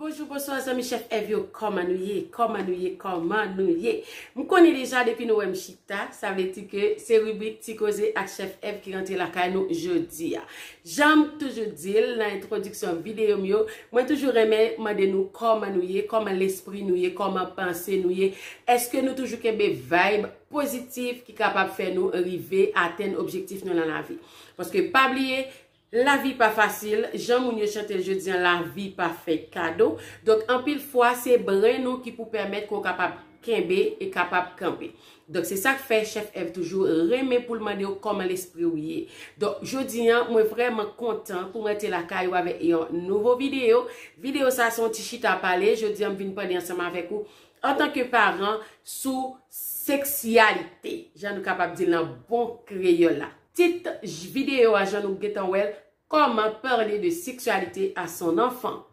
Bonjou bonswa zanmi chèf èv yo kòman nou ye kòman nou ye kòman nou ye m konnen deja depi nou wè m chita sa vle di ke se ribrik ti koze ak chèf èv ki rantre lakay nou jodi a jan m toujou di l nan entwodiksyon videyo m yo mwen toujou renmen mande nou kòman nou ye kòman lespri nou ye kòman panse nou ye èske nou toujou kenbe vayb pozitif ki kapab fè nou rive atenn objektif nou nan lavi paske pa bliye Lavi pa fasil, jan moun yo chante l jodi an lavi pa fèt kado, donk anpil fwa se bren nou ki pou pèmèt ke w kapab kenbe e kapab kanpe. Donk se sa k fè chèf Èv toujou renmen pou l mande w kòman lespri w ye. Donk jodi an mwen vrèman kontan pou mwen te lakay ou avèk yon nouvo videyo. Videyo sa a se yon ti chita pale, jodi an m vin pale ansanm avèk ou antanke paran sou seksyalite, jan nou kapab di l nan bon kreyòl la. Tit video a jan nou gentan wèl comment parler de sexualité à son enfant.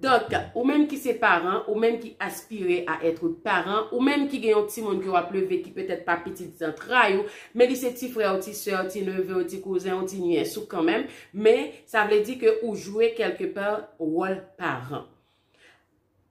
Donk ou menm ki se paran, ou menm ki aspire a etre paran, ou menm ki gen yon timoun ke wap leve ki petèt pa pitit zantray ou, men li se ti frè ou, ti sè ou, ti neve ou, ti kouzen ou, ti nyès ou kanmenm, men sa vle di ke ou jwe kelke pa wòl paran.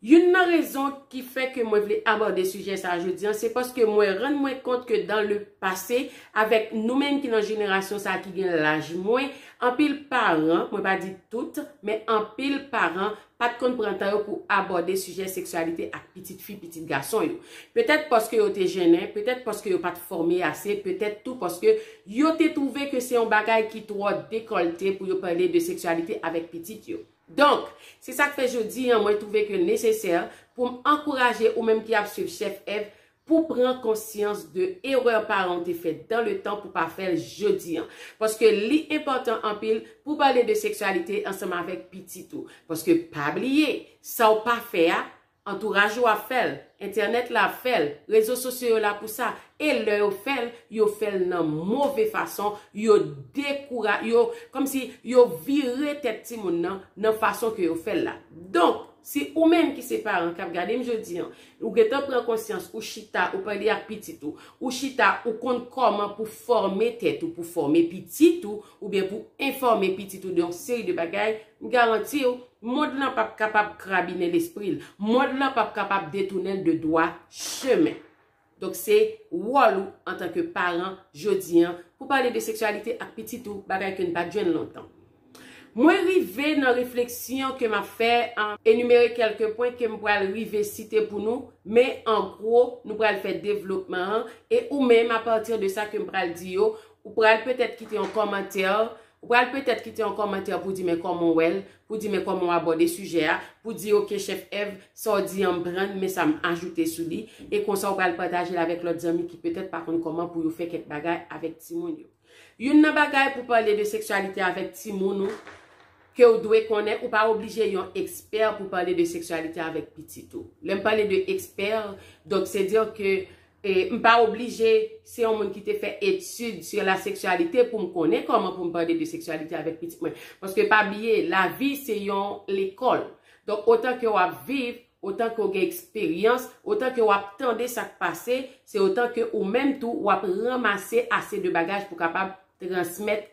Youn nan rezon ki fè ke mwen vle abòde sijè sa a jodi an, se paske mwen rann mwen kont ke dan le pase, avèk nou menm ki nan jenerasyon sa a ki gen laj mwen, anpil paran, mwen pa di tout, men anpil paran pa t konn pran tan yo pou abòde sijè seksyalite ak pitit fi, pitit gason yo. Petèt paske yo te jennen, petèt paske yo pa t fòme ase, petèt tou paske yo te twouve ke se yon bagay ki twò dekòlte pou yo pale de seksyalite avèk pitit yo. Donk, se sa k fè jodi an mwen twouve ke nesesè pou m ankouraje ou menm ki ap swiv chèf Èv pou pran konsyans de erè paran w te fè dan le tan pou pa fè l jodi an. Paske li enpòtan anpil pou w pale de seksyalite ansanm avèk pitit ou. Paske pa bliye, sa w pa fè a, Antouraj ou ap fè l, entènèt la ap fè l, rezo sosyo yo la pou sa, e lè yo fè l, yo fè l nan move fason, yo dekoura, yo, kòmsi, yo vire tèt timoun nan, nan fason ke yo fè l la. Donk, si ou menm ki se paran kap gade m jodi an, ou gentan pran konsyans, ou chita, ou pale ak pitit ou, ou chita, ou konn kòman pou fòme tèt ou, pou fòme pitit ou, oubyen pou enfòme pitit ou de yon seri de bagay, m garanti w, mond lan pap kapab krabinen lespri l, mond lan pap kapab detounen l de dwa chemen. Donk se wòl ou antanke paran jodi an pou pale de seksyalite ak pitit ou, bagay ke n pa t jwenn lontan. Mwen rive nan refleksyon ke m ap fè an enimere kèlke pwen ke m pral rive site pou nou, men an gwo nou pral fè devlopman an e ou menm apati de sa ke m pral di yo, Ou pral petèt kite yon kòmantè, ou pral petèt kite yon kòmantè pou di men kòman w wè l, pou di men kòman w abòde sijè a, pou di ok chèf Èv, sa w di an m pran, men sa m ajoute sou li, e konsa w pral pataje l avèk lòt zanmi ki petèt pa konn kòman pou yo fè kèk bagay avèk timoun yo. Youn nan bagay pou pale de seksyalite avèk timoun ou ke w dwe konnen, ou pa oblije yon ekspè pou pale de seksyalite avèk pitit ou. Lè m pale de ekspè, donk se dire ke M pa oblije se yon moun ki te fè etid sou la seksyalite pou m konnen kòman pou m pale de seksyalite avèk pitit mwen. Paske pa bliye, lavi se yon lekòl. Donk, otan ke w ap viv, otan ke w gen eksperyans, otan ke w ap tande sa k pase, se otan ke ou menm tou w ap ranmase ase de bagaj pou kapab transmèt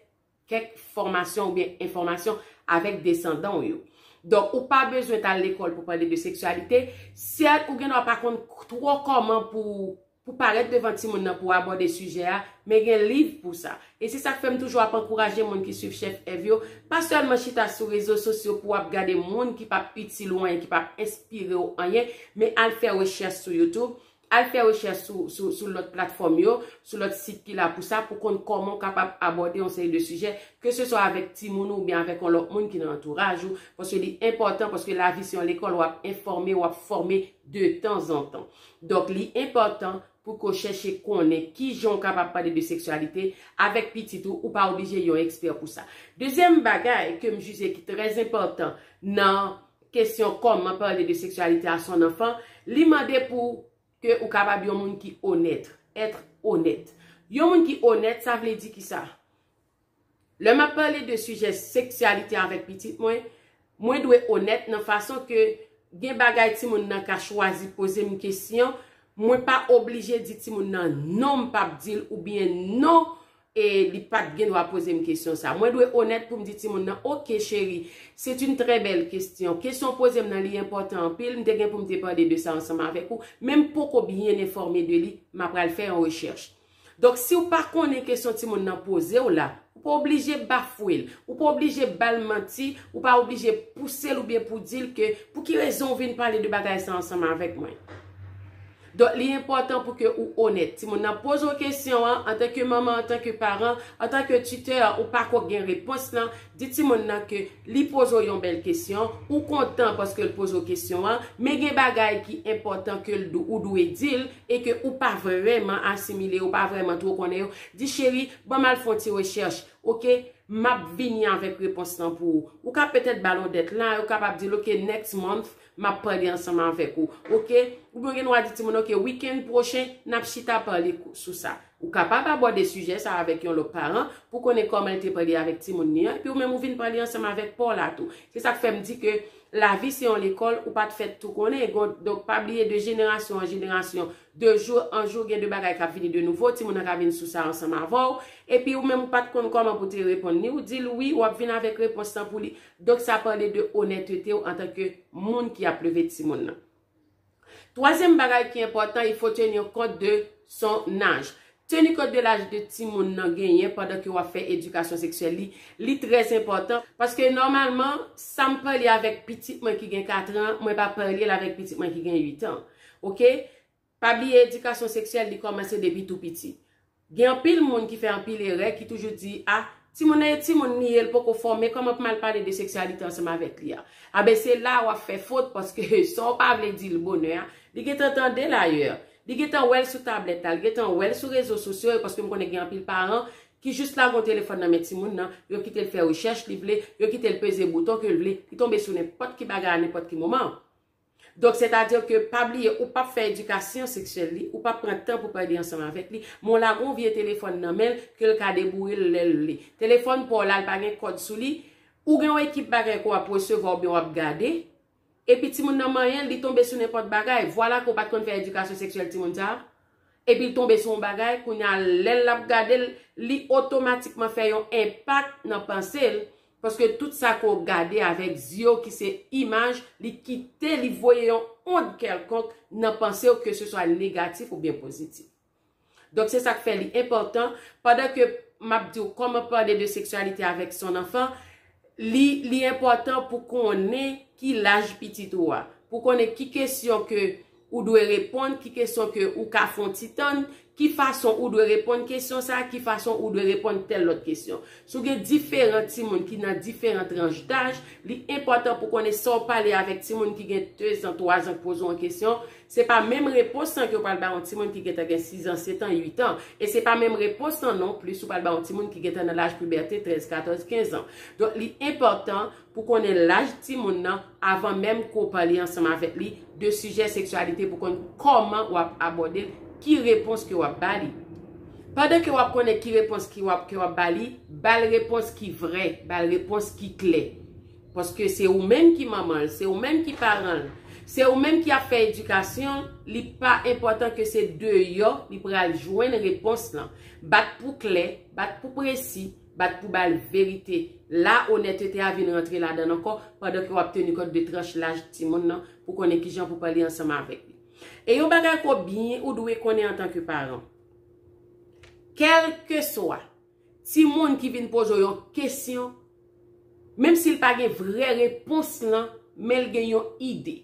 kèk fòmasyon oubyen enfòmasyon avèk desandan w yo. Donk, ou pa bezwen t al lekòl pou pale de seksyalite, sèl ou gendwa pa konn twò kòman pou ou parèt devan timoun nan pou w abòde sijè a, men gen liv pou sa. E se sa k fè m toujou ap ankouraje moun ki suiv Chèf Èv yo, pa sèlman chita sou rezo sosyo pou w ap gade moun ki p ap itil ou anyen, ki p ap enspire w anyen, men al fè rechèch sou YouTube, Al fè rechèch sou sou sou lòt platfòm yo, sou lòt sit ki la pou sa, pou konn kòman ou kapab abòde yon seri de sijè, ke se swa avèk timoun ou oubyen avèk yon lòt moun ki nan antouraj ou, paske li enpòtan, paske lavi se yon lekòl, w ap enfòme, w ap fòme de tan zan tan. Donk li enpòtan pou ke w chèche konnen ki jan ou kapab pale de seksyalite avèk pitit ou, ou pa oblije yon ekspè pou sa. Dezyèm bagay ke m jije ki trè enpòtan nan. kesyon kòman pale de seksyalite a son anfan, li mande pou ke ou kapab yon moun ki onèt, être honnête. Yon moun ki onèt, sa vle di ki sa? Lè map pale de sijè seksyalite avèk pitit mwen, mwen dwe onèt nan fason ke gen bagay ti moun nan ka chwazi poze m kesyon, mwen pa oblije di ti moun nan non m pap di l oubyen non e li pat gen dwa poze m kesyon sa. Mwen dwe onèt pou m di timoun nan, ok cheri, c'est une très belle question. Kesyon w poze m nan li enpòtan anpil, m te gen pou m te pale de sa ansanm avèk ou, men m poko byen enfòme de li, m apral fè yon rechèch. Donk si w pa konnen kesyon timoun nan poze w la, ou pa oblije bafwe l, ou pa oblije ba l manti, ou pa oblije pouse l oubyen pou di l ke pou ki rezon w vin pale de bagay sa ansanm avèk mwen. Donk li enpòtan pou ke ou onèt. Timoun nan poze w kesyon an, antanke manman, antanke paran, antanke titè, ou pa ko gen repons lan, di timoun nan ke li poze w yon bèl kesyon, ou kontan paske l poze w kesyon an, men gen bagay ki enpòtan ke l ou dwe di l e ke ou pa vrèman asimile yo, ou pa vrèman two konnen yo, di cheri, ban m al fè yon ti rechèch, ok, m ap vini avèk repons lan pou ou. Ou ka petèt ba l yon deadline, ou kapab di l ok, next month, Map pale ansanm avèk ou. Ok. Oubyen ou gen dwa di timoun ok weekend pwochen nap chita pale sou sa. Ou kapab abòde sijè sa avèk yon lòt paran pou konnen kòman li te pale avèk timoun li an epi ou menm ou vin pale ansanm avèk paw la tou. Se sak fèm di ke lavi se yon lekòl ou pat fèt tou konnen donk pa bliye de jenerasyon an jenerasyon de jou an jou gen de bagay kap vini de nouvo timoun nan ka vin sou sa ansanm avèw epi ou menm ou pat konn kòman pou te reponn li ou dil wi wap vin avèk repons lan pou li Donk sa pale de onètete w antan ke moun ki ap leve timoun nan. Twazyèm bagay ki enpòtan, il faut tenir compte de son âge. Tenir compte de l'âge de timoun nan genyen pandan ke w ap fè edikasyon seksyèl li, li trè enpòtan. Paske nòmalman, sa m pale avèk pitit mwen ki gen katran, mwen pa pale l avèk pitit mwen ki gen uitan. Ok? Pa bliye edikasyon seksyèl li kòmanse depi tou piti. Gen anpil moun ki fè anpil erè ki toujou di a timoun nan e timoun li ye l poko fòme kòman pou m al pale de seksyalite ansanm avèk li a. A ben se la a w ap fè fot paske sa w pa vle di l bonè a li gentan tande l ayè. Li gentan wè l sou tablèt la, li gentan wè l sou rezo sosyo yo paske m konnen gen anpil paran ki jis lage yon telefòn nan men timoun nan, yo kite l fè rechèch li vle, yo kite l peze bouton ke l vle, li tonbe sou nenpòt ki bagay a nenpòt ki moman. Donk sètadi ke pa bliye ou pap fè edikasyon seksyèl li, ou pap pran tan pou pale ansanm avèk li, men w lage yon vye telefòn nan men l ke l ka deboure l lè l vle. Telefòn pa w la li pa gen kòd sou li, ou gen yon ekip bagay ke w ap resevwa oubyen w ap gade, epi timoun nan manyen l, li tonbe sou nenpòt bagay. Vwala ke w pa t konn fè edikasyon seksyèl timoun sa a. Epi l tonbe sou yon bagay, kounye a lè l ap gade l, li otomatikman fè yon enpak nan panse l, paske tout sa ke w gade avèk zye w ki se imaj, li kite, li voye yon ond kèlkonk nan panse w, keseswa negatif oubyen pozitif. Donk se sa k fè li enpòtan, pandan ke m ap di w kòman pale de seksyalite avèk son anfan, li, li enpòtan pou konnen ki laj pitit ou a, pou konnen ki kesyon ke Ou dwe reponn ki kesyon ke ou ka fon ti tann, ki fason ou dwe reponn kesyon sa, ki fason ou dwe reponn tèl lòt kesyon. Si w gen diferan timoun ki nan diferan tranch daj, li enpòtan pou konnen sa w pale avèk timoun ki gen dezan, twazan k poze w yon kesyon, se pa menm repons lan ke w pral bay yon timoun ki gentan gen sizan, setan, uitan. E se pa menm repons lan non plis ou pral bay yon timoun ki gentan nan laj pibète, trèz, katòz, kenzan. Donk li enpòtan. Pou konnen laj timoun nan avan menm ke w pale ansanm avèk li de sijè seksyalite pou konn kòman w ap abòde l, ki repons ke w ap ba li. Pandan ke w ap konnen ki repons ke w ap ke w ap ba li, ba l repons ki vrè, ba l repons ki klè. Paske se ou menm ki manman l, se ou menm ki paran l, se ou menm ki ap fè edikasyon l, li pa enpòtan ke se deyò li pral jwenn repons lan. Bat pou klè, bat pou presi. Bat pou bal verite. La onètete a vin rantre ladann ankò pandan ke wap teni kont de tranch laj timoun nan pou konnen kijan pou pale ansanm avèk li. E yon bagay ke w byen ou dwe konnen antan ke paran. Kèlkeswa timoun ki vin poze w yon kesyon, menm si l pa gen vrè repons lan, men l gen yon ide.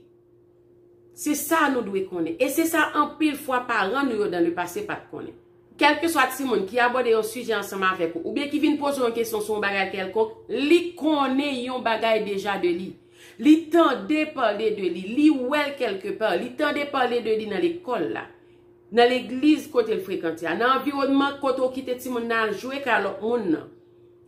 Se sa nou dwe konnen. E se sa anpil fwa paran nou yo dan le pase pa t konnen. Kèlkeswa timoun ki abòde yon sijè ansanm avèk ou oubyen ki vin poze w yon kesyon sou yon bagay kèlkonk, li konnen yon bagay deja de li. Li tande pale de li. Li wè l kèlke pa. Li tande pale de li nan lekòl la, nan legliz kote l frekante a, nan anviwònman kote w kite timoun nan al jwe kay lòt moun nan.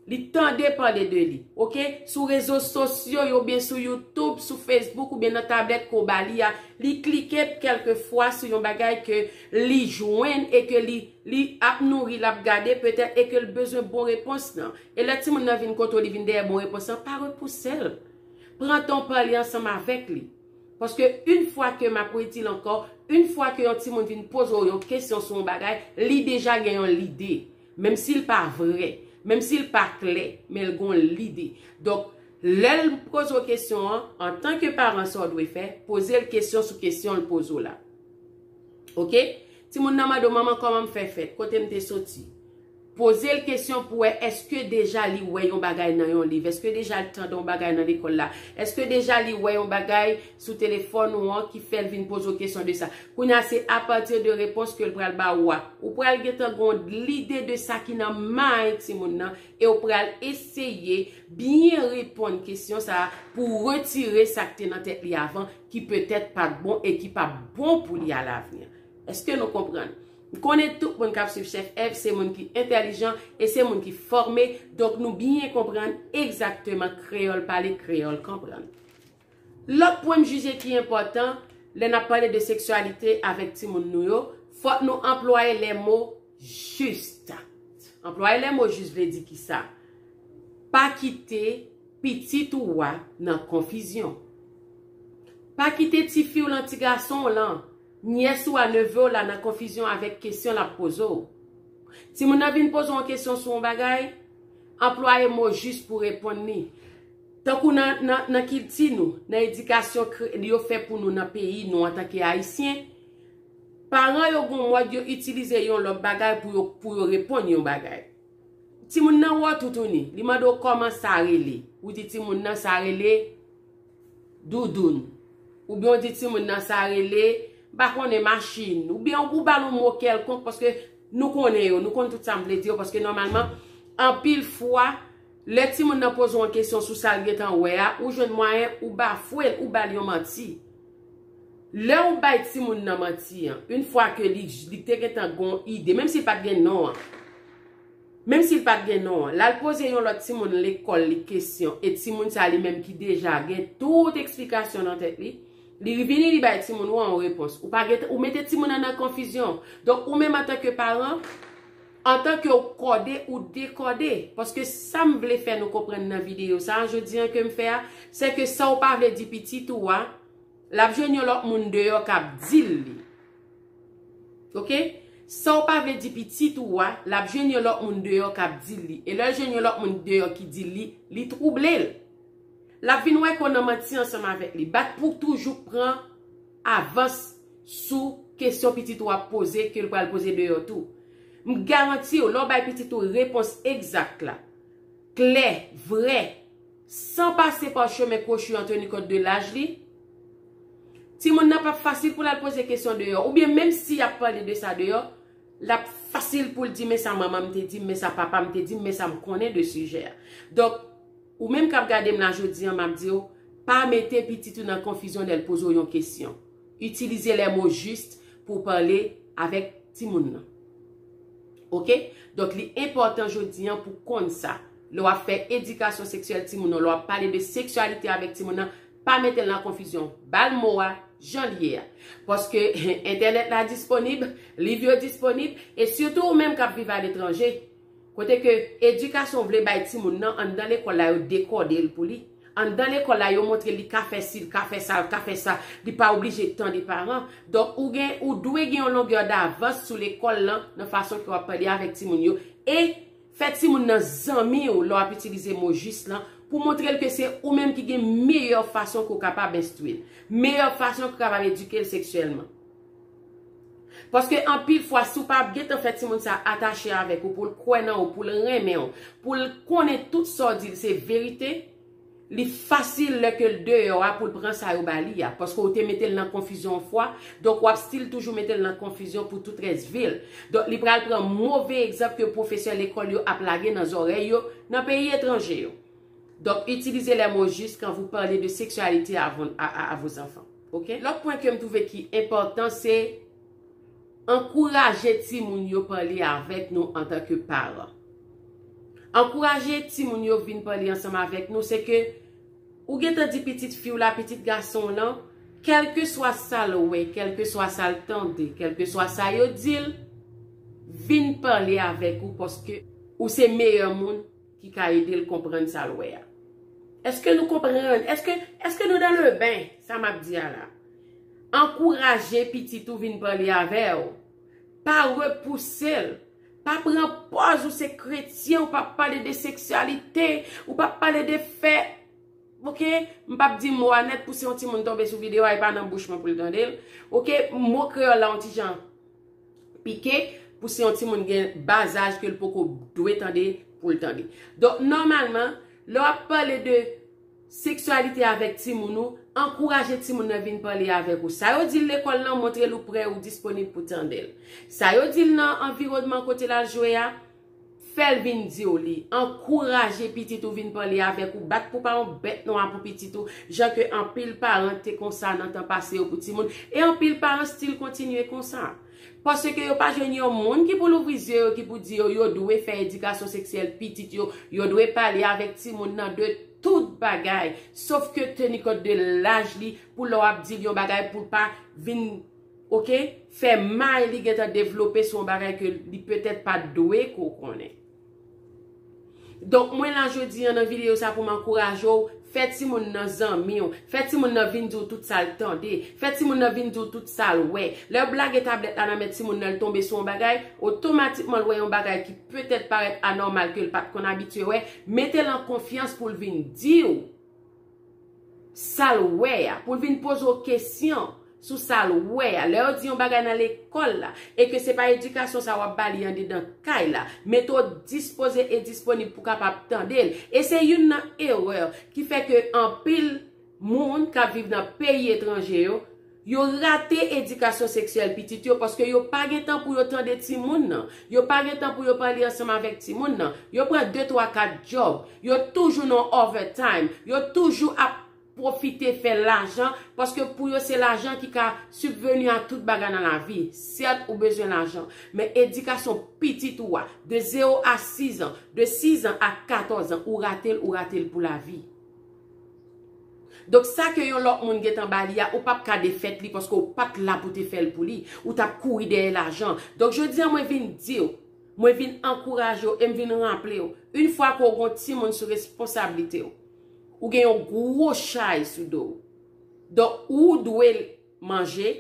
Li tande pale de li. Ok. Sou rezo sosyo yo oubyen sou YouTube, sou Facebook oubyen nan tablèt ke w ba li a, li klike kèlke fwa sou yon bagay ke li jwenn e ke li li ap nouri, l ap gade petèt e ke l bezwen bon repons nan. E lè timoun nan vin kote w li vin dèyè bon repons lan, pa repouse l. Pran tan w pale ansanm avèk li. Paske yn fwa ke, m ap redi l ankò, yn fwa ke yon timoun vin poze w yon kesyon sou yon bagay, li deja gen yon lide. Menm si l pa vrè. Menm si l pa klè. Men l gon lide. Donk, lè l poze w kesyon an, antanke paran sa w dwe fè, poze l kesyon sou kesyon l poze w la. Ok? Timoun nan mande w, manman kòman m fè fèt? Kote m te soti? Poze l kesyon pou wè èske deja li wè yon bagay nan yon liv? Èske deja l tande yon bagay nan lekòl la? Èske deja li wè yon bagay sou telefòn ou an ki fèl vin poze w kesyon de sa. Kounye a se a pati de repons ke l pral ba ou a, ou pral gentan gen yon lide de sa ki nan mind timoun nan e ou pral eseye byen reponn kesyon sa a pou w retire sa k te nan tèt li avan ki petèt pa t bon e ki pa p bon pou li a lavni. Eske nou konprann? M konnen tout moun k ap swiv Chèf Èv se moun ki entèlijan e se moun ki fòme, donk nou byen konprann egzakteman kreyòl pale, kreyòl konprann. Lòt pwen m jije ki enpòtan lè n ap pale de seksyalite avèk timoun nou yo, fòk nou anplwaye lè mo jis. Anplwaye lè mo jis vle di ki sa? Pa kite pitit ou a nan konfizyon. Pa kite tifi w lan, ti gason w lan, nyès ou a, neve w la nan konfizyon avèk kesyon l ap poze w. Timoun nan vin poze w yon kesyon sou yon bagay, anplwaye mo jis pou w reponn li. Tankou nan kilti nou, nan edikasyon yo fè pou nou nan peyi nou antanke Ayisyen, paran yo gon mòd yo itilize yon lòt bagay pou yo reponn yon bagay. Timoun nan wè w toutouni, li mande w kòman sa rele. Ou di timoun nan sa rele doudoun. Oubyen ou di timoun nan sa rele, m pa konnen, machin. Oubyen ou ba l yon mo kèlkonk paske nou konnen yo, nou konn tout sa m vle di yo paske nòmalman anpil fwa Lè timoun nan poze w yon kesyon sou sa l gen tan wè a, ou jwenn mwayen ou bafwe l, ou ba l yon manti. Lè ou bay timoun nan manti an, in fwa ke li li te gen tan gen yon ide, menm si l pa t gen non an, menm si l pa t gen non an, l al poze yon lòt timoun lekòl li kesyon, e timoun sa li menm ki deja gen tout eksplikasyon nan tèt li, li vini li bay timoun ou an yon repons. Ou pa gen tan, ou mete timoun nan nan konfizyon. Donk ou menm antanke paran. Antan ke w kòde ou dekòde. Paske sa m vle fè nou konprann nan videyo sa a jodi an ke m fè a, sè ke sa w pa vle di pitit ou a, l ap jwenn yon lòt moun deyò k ap di l li. Ok? Sa w pa vle di pitit ou a, l ap jwenn yon lòt moun deyò k ap di l li. E lè l jwenn yon lòt moun deyò ki di l li, li twouble l. L ap vin wè ke w nan manti ansanm avèk li. Bat pou w toujou pran avans sou kesyon pitit ou ap poze ke l pral poze deyò tou. M garanti w, lè w bay pitit ou repons egzak la, klè, vrè, san pase pa chemen kwochi an teni kont de laj li, timoun nan p ap fasil pou l al poze kesyon deyò. Oubyen menm si y ap pale de sa deyò, l ap fasil pou l di men sa manman m te di m, men sa papa m te di m, men sa m konnen de sijè a. Donk. Ou menm kap gade m la jodi an map di w pa mete pitit ou nan konfizyon lè l poze w yon kesyon. Itilize les mots justes pou w pale avèk timoun nan. Ok, donk li enpòtan jodi an pou w konn sa. Lè w ap fè edikasyon seksyèl timoun nan, lè w ap pale de seksyalite avèk timoun nan, pa mete l nan konfizyon. Ba l mo a jan l ye a. Paske entènèt la disponib, liv yo disponib, e sitou ou menm kap viv aletranje, Kote ke edikasyon vle bay timoun nan anndan lekòl la yo dekòde l pou li. Anndan lekòl la yo montre l li ka fè si, l ka fè sa, l ka fè sa, li pa oblije tande paran. Donk ou gen, ou dwe gen yon longè davans sou lekòl lan nan fason ke w ap pale avèk timoun yo e fè timoun nan zanmi w lè w ap itilize mo jis lan pou montre l ke se ou menm ki gen meyè fason ke w kapab enstwi l, meyè fason ke w kapab edike l seksyèlman. Paske anpil fwa si w pa ap gentan fè timoun sa atache avèk ou, pou l kwè nan ou, pou l renmen ou, pou l konnen tout sa w di l se verite, li fasil lè ke l deyò a pou l pran sa yo ba li a. Paske w te mete l nan konfizyon yon fwa, donk w ap stil toujou mete l nan konfizyon pou tout rès vi l. Donk li pral pran move egzanp ke pwofesè lekòl yo ap lage nan zòrèy yo nan peyi etranje yo. Donk itilize lè mo jis kan vou pale de seksyalite a vos anfan. Ok lòt pwen kem twouve ki enpòtan se ankouraje timoun yo pale avèk nou antan ke paran ankouraje timoun yo vin pale ansanm avèk nou se ke ou gentan di pitit fiw la pitit gasonw lan kèlkeswa sal wè kèlkeswa sal tande kèlkeswa sa yo dil vin pale avèk ou paske ou se meyè moun Ki ka ede l konprann sa l wè a. Eske nou konprann? Eske, eske nou dan le ben, sa m ap di a la? Ankouraje pitit ou vin pale avè w. Pa repouse l. Pa pran pòz ou se kretyen, ou pa p pale de seksyalite, ou pa p pale de fè. Ok? M pa p di mo a nèt pou si yon timoun tonbe sou videyo a, e pa nan bouch mwen pou l tande l. Ok? Mo kreyòl la yon ti jan. pike pou se yon timoun gen ba zaj ke l poko dwe tande pou l tande. Donk nòmalman, lè w ap pale de seksyalite avèk timoun ou, ankouraje timoun nan vin pale avèk ou. Sa yo di l lekòl lan, montre l ou prè, ou disponib pou tande l. Sa yo di l nan anviwònman kote l al jwe a. Fè l vin di w li. Ankouraje pitit ou vin pale avèk ou. Bat pou pa yon bèt nwa pou pitit ou, jan ke anpil paran te konsa nan tan pase yo pou timoun, e anpil paran stil kontinye konsa. Paske yo pa jwenn yon moun ki pou louvri zye yo, ki pou di yo, yo dwe fè edikasyon seksyèl pitit yo, yo dwe pale avèk timoun nan de tout bagay, sof ke teni kont de laj li, pou lè w ap di l yon bagay pou l pa vin. Ok fè may li gentan devlope son bagay ke li petèt pat dwe ke w konnen. Donk mwen la jodi an nan videyo sa pou m ankouraje w fè timoun nan zanmi w, fè timoun nan vin di w tout sa l tande, fè timoun nan vin di w tout sa l wè. Lè w blage tablèt la nan men timoun nan l tonbe sou yon bagay, otomatikman l wè yon bagay ki petèt parèt anòmal ke l pat konn abitye wè, mete l an konfyans pou l vin di w. sa l wè a, pou l vin poze w kesyon sou sa l wè a. Lè yo di yon bagay nan lekòl la e ke se pa edikasyon sa w ap ba li andedan kay la, mete w dispoze e disponib pou w kapab tande l. E se youn nan erè ki fè ke anpil moun k ap viv nan peyi etranje yo, Yo rate edikasyon seksyèl pitit yo paske yo pa gen tan pou yo tande timoun nan. Yo pa gen tan pou yo pale ansanm avèk timoun nan. Yo pran de twa kat djòb. Yo toujou nan overtime. Yo toujou ap pwofite fè lajan paske pou yo se lajan ki ka subvenu a tout bagay nan lavi. Sèt ou bezwen lajan. Men edikasyon pitit ou a. De zero a sizan. De sizan a katòzan. Ou rate l ou rate l pou lavi. Donk sa ke yon lòt moun gentan ba li a, ou pap ka defèt li paske ou pat la pou te fèl pou li. Ou tap kouri dèyè lajan. Donk jodi an mwen vin di w, mwen vin ankouraje w e m vin raple w, yn fwa ke w gen yon timoun sou responsablite w, ou gen yon gwo chay sou do w. Donk ou dwe. manje,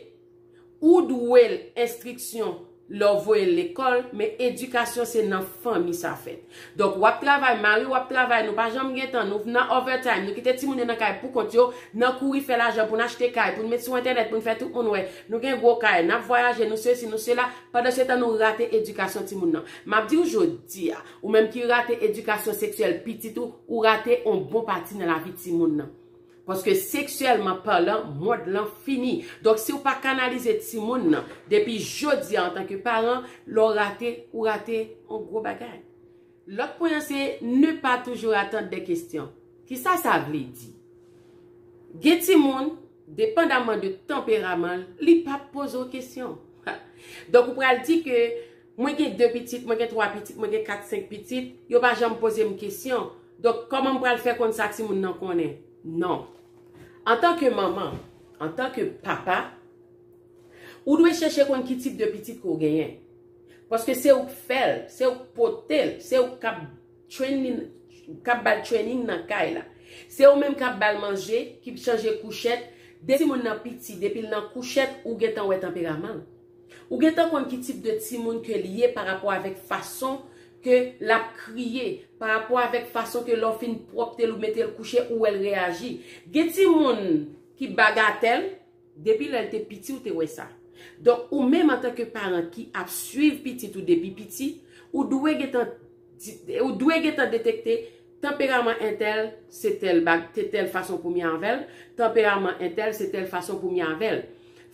ou dwel enstriksyon lè w voyel lekòl men edikasyon se nan fanmi sa fèt. Donk wap travay, mariw ap travay nou pa janm gen tan nou nan overtime nou kite timoun yo nan kay pou kont yo nan kouri fè lajan poun achte kay poun met sou entènèt poun fè tout moun wè nou gen gwo kay nap vwayaje nou sesi nou sela pandansetan nou rate edikasyon timoun nan map diw jodia ou menm ki rate edikasyon seksyèl pitit ou ou rate on bon pati nan lavi timoun nan. Paske seksyèlman palan mond lan fini. Donk si ou pa kanalize timoun nan depi jodi a antanke paran, lè ou rate, ou rate yon gwo bagay. Lòt pwen an se ne pas toujours attendre des questions. Kisa sa vle di? Gen timoun, depandaman de tanperaman l, li pap poze w kesyon. Donk ou pral di ke Mwen gen 2 pitit, mwen gen 3 pitit, mwen gen 4, 5 pitit, yo pa janm poze m kesyon, donk kòman m pral fè konn sa timoun nan konnen? Non. Antan ke manman, antan ke papa, ou dwe chèche konn ki tip de pitit ke w genyen. Paske se ou k fè l, se ou k pote l, se ou k ap training, k ap ba l training nan kay la. Se ou menm k ap ba l manje, ki p chanje kouchèt, depi timoun nan piti, depi l nan kouchèt, ou gentan wè tanperaman l. Ou gentan konn ki tip de timoun ke li ye pa rapò avèk fason ke l ap kriye, pa rapò avèk fason ke lè w fin pwòpte l ou mete l kouche ou wè l reyaji. Gen timoun ki bagatèl, depi lè l te piti ou te wè sa. Donk ou menm antanke paran ki ap swiv pitit ou depi piti, ou dwe gentan. Ou dwe gentan detekte Tanperaman entèl se tèl bag te tèl fason pou mi avè l Tanperaman entèl se tèl fason pou mi avè l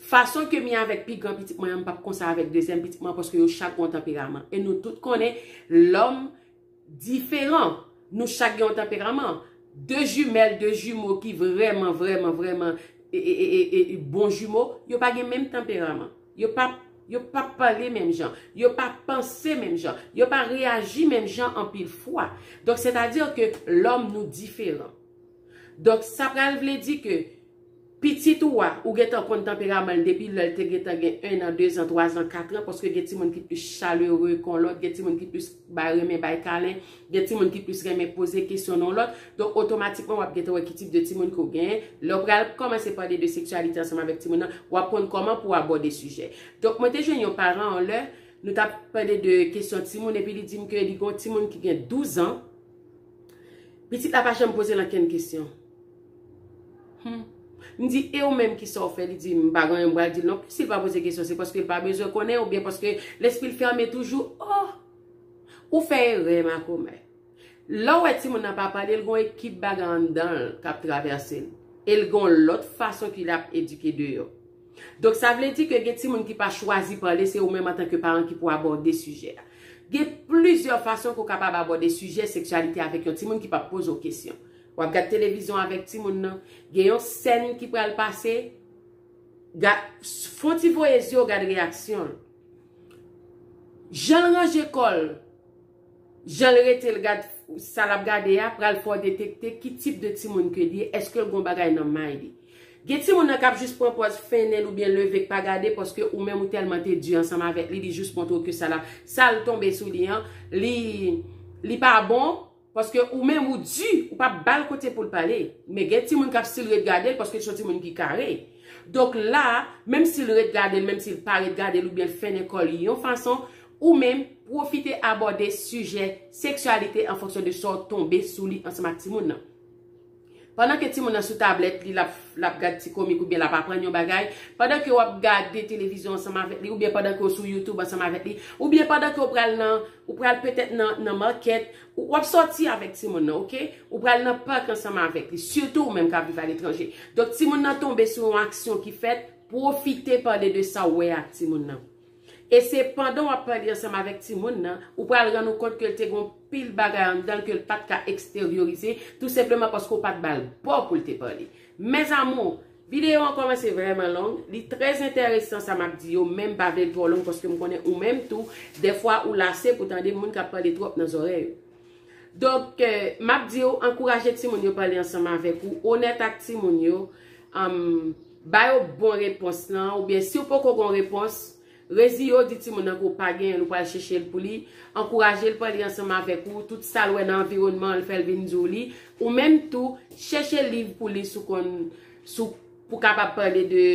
Fason ke mi avèk pi gran pitit mwen an m pap konsa avèk dezyèm pitit mwen an paske yo chak gen yon tanperaman e nou tout konnen lòm diferan nou chak gen yon tanperaman De jumèl de jimo ki vrèman vrèman vrèman bon jimo yo pa gen menm tanperaman. Yo pa, yo pa pale menm jan. Yo pa panse menm jan. Yo pa reyaji menm jan anpil fwa. Donk se ta dir ke lòm nou diferan. Donk sa pral vle di ke pitit ou a, ou gentan konn tanperaman l depi lè l te gentan gen 1 an, 2 an, 3 an, 4 an, paske gen timoun ki plis chalere kon lòt, gen timoun ki plis bay renmen, bay kalen, Gen timoun ki plis renmen poze kesyon nan yon lòt, donk otomatikman w ap gentan wè ki tip de timoun ke w genyen. Lè w pral kòmanse pale de seksyalite ansanm avèk timoun nan, w ap konn kòman pou w abòde sijè. Donk mwen te jwenn yon paran yon lè, nou t ap pale de kesyon timoun epi li di m ke li gen yon timoun ki gen 12 an, pitit la pa janm poze l ankenn kesyon. Hum. M di, e ou menm kisa w fè? Li di, m pa gen anyen m pral di l non plis, si l pa poze kesyon se paske l pa bezwen konnen oubyen paske lespri l fèmen toujou. Oh! Ou fè erè makomè. Lè w wè timoun nan pa pale l gen yon ekip bagay anndan l k ap travèse l. E l gen yon lòt fason ki ap edike deyò. Donk sa vle di ke gen timoun ki pa chwazi pale se ou menm antanke paran ki pou abòde sijè a. Gen plizyè fason ke w kapab abòde sijè seksyalite avèk yon timoun ki pap poze w kesyon. W ap gad televizyon avèk timoun nan, gen yon sèn ki pral pase, fon ti voye zye w gad reyaksyon l. Janl ranje kòl, janl retel gad sa lap gade a pral fè w detekte ki tip de timoun ke li ye, eske l gon bagay nan may li. Gen timoun nan kap jis pran pòz fennen l oubyen leve k pa gade paske ou menm ou tèlman te di ansanm avèk li, li jis montre w ke sa lap, sal tonbe sou li an li pa bon. Paske ou menm ou di, ou pa bal kote poul pale. Men gen timoun kap stil ret gadel paske li son timoun ki kare. Donk la, menm sil ret gadel, menm sil pa ret gadel oubyen l fennen kò li yon fason, ou menm pwofite abòde sijè seksyalite an fonksyon de sa w tonbe sou li ansanm ak timoun nan. Pandan ke timoun nan sou tablèt li, l ap gad ti komik oubyen l ap aprann yon bagay, pandan ke w ap gade televizyon ansanm avèk li, oubyen pandan ke w sou YouTube ansanm avèk li, oubyen pandan ke w pral nan, ou pral petèt nan market, w ap sòti avèk timoun nan, ok? Ou pral nan park ansanm avèk li, sitou ou menm k ap viv aletranje. Donk timoun nan tonbe sou yon aksyon ki fèt, pwofite pale de sa w wè a ak timoun nan. E se pandan w ap pale ansanm avèk timoun nan, ou pral rann ou kont ke l te gen yon pil bagay anndan l ke l pa t ka eksteryorize, tou senpleman paske w pa t ba l bo pou l te pale. Mes amours! Videyo an kòmanse vrèman long, li trè entèresan sa m ap di yo, men m pa vle l twò long paske m konnen ou menm tou, dèfwa ou lase pou tande moun k ap pale twòp nan zòrèy ou. Donk, m ap di w, ankouraje timoun yo pale ansanm avèk ou, onèt ak timoun yo, Ba yo bon repons lan oubyen si w poko gon repons, reziye w di timoun nan ke w pa genyen l ou pral cheche l pou li, ankouraje l pran li ansanm avèk ou, tout sa l wè nan anviwònman l fè l vin di w li, ou menm tou chèche liv pou li sou konn sou pou kapab pale de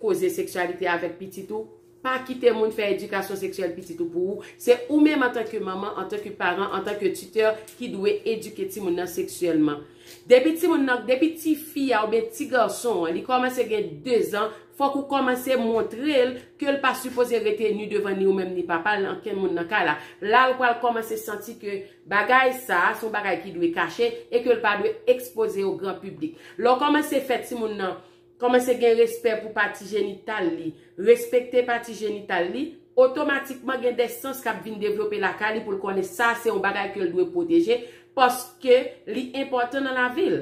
koze seksyalite avèk pitit ou. Pa kite moun fè edikasyon seksyèl pitit ou pou ou, se ou menm antanke manman, antanke paran, antanke titè ki dwe edike timoun nan seksyèlman. Depi timoun nan, depi ti fi a oubyen ti gason an li kòmanse gen 2 zan, fòk ou kòmanse montre l ke l pa sipoze rete ni devan ni ou menm ni papa l, ankenn moun nan kay la. La l pral kòmanse santi ke bagay sa a se yon bagay ki dwe kache e ke l pa dwe ekspoze o gran piblik. Lè w kòmanse fè timoun nan Kòmanse gen respè pou pati jenital li, respekte pati jenital li, otomatikman gen de sans kap vin devlope lakay li pou l konnen sa se yon bagay ke l dwe pwoteje paske li enpòtan nan lavi l.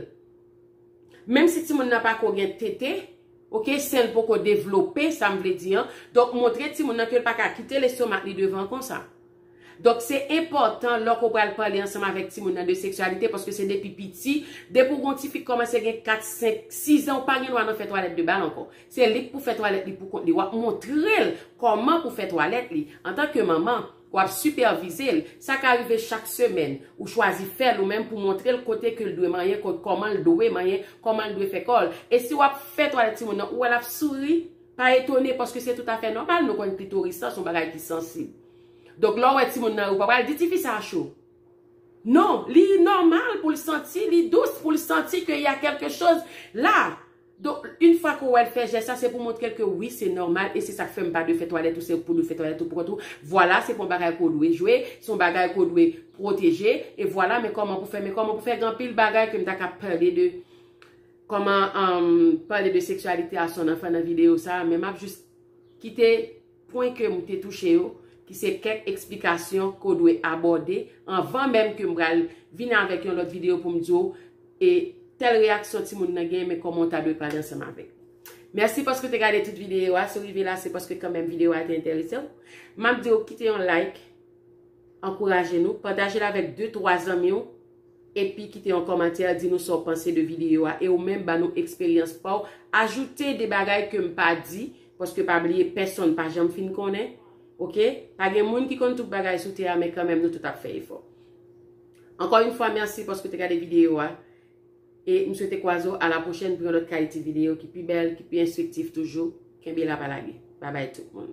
Menm si timoun nan pa ko gen tete, ok, sen l poko devlope, sa m vle di an, donk montre timoun nan ke l pa ka kite lestomak li devan konsa. Donk se enpòtan lò ke w pral pale ansanm avèk timoun nan de seksyalite paske se depi piti, depi w gen yon ti fi k kòmanse gen 4, 5, 6 zan ou pa gen dwa nan fè twalèt de bal ankò. Se li k pou fè twalèt li pou kont li. W ap montre l kòman pou fè twalèt li. Antan ke manman, w ap sipèvize l. Sa ka rive chak semèn, ou chwazi fè l ou menm pou montre l kote ke l dwe manyen, kòman l dwe manyen, kòman l dwe fè kò l. E si w ap fè twalèt timoun nan, ou wè l ap souri, pa etone paske se toutafè nòmal nou konn klitoris lan se yon bagay ki sansib. Donk lè w wè timoun nan ou pa pral di tifi sa cho. Non, li nòmal pou l santi, li dous pou l santi ke y a kèlke choz la. Donk, yn fwa ke w wè l fè jès sa, se pou w montre l ke wi se nòmal e se sa k fè m pa dwe fè twalèt ou, se pou dwe fè twalèt ou pou kont ou. Vwala, se pa yon bagay ke w dwe jwe, se yon bagay ke w dwe pwoteje e vwala men kòman pou fè, men kòman pou fè gen anpil bagay ke m ta ka pale de kòman pale de seksyalite a son anfan nan videyo sa a men m ap jis kite. Pwen ke m te touche yo, ki se kèk eksplikasyon ke w dwe abòde, anvan menm ke m pral vin avèk yon lòt videyo pou m di w e tèl reyaksyon timoun nan genyen men kòman w ta dwe pale ansanm avèk. Mèsi paske w te gade tout videyo a, si w rive la se paske kanmenm videyo a te enterese w. M ap di w kite yon like, Ankouraje nou, pataje l avèk de twa zanmi w epi kite yon kòmantè di nou sa w panse de videyo a e ou menm ban nou eksperyans pa w ajoute de bagay ke m pa di paske pa bliye pèsonn pa janm fin konnen ok pa gen moun ki konn tout bagay sou tè a men kanmenm nou tout ap fè efò Ankò yn fwa mèsi paske w te gade videyo a e m swete kwaze w a la pwochèn pou yon lòt kalite videyo ki pi bèl ki pi enstriktif toujou kenbe la pa lage Babay tout moun.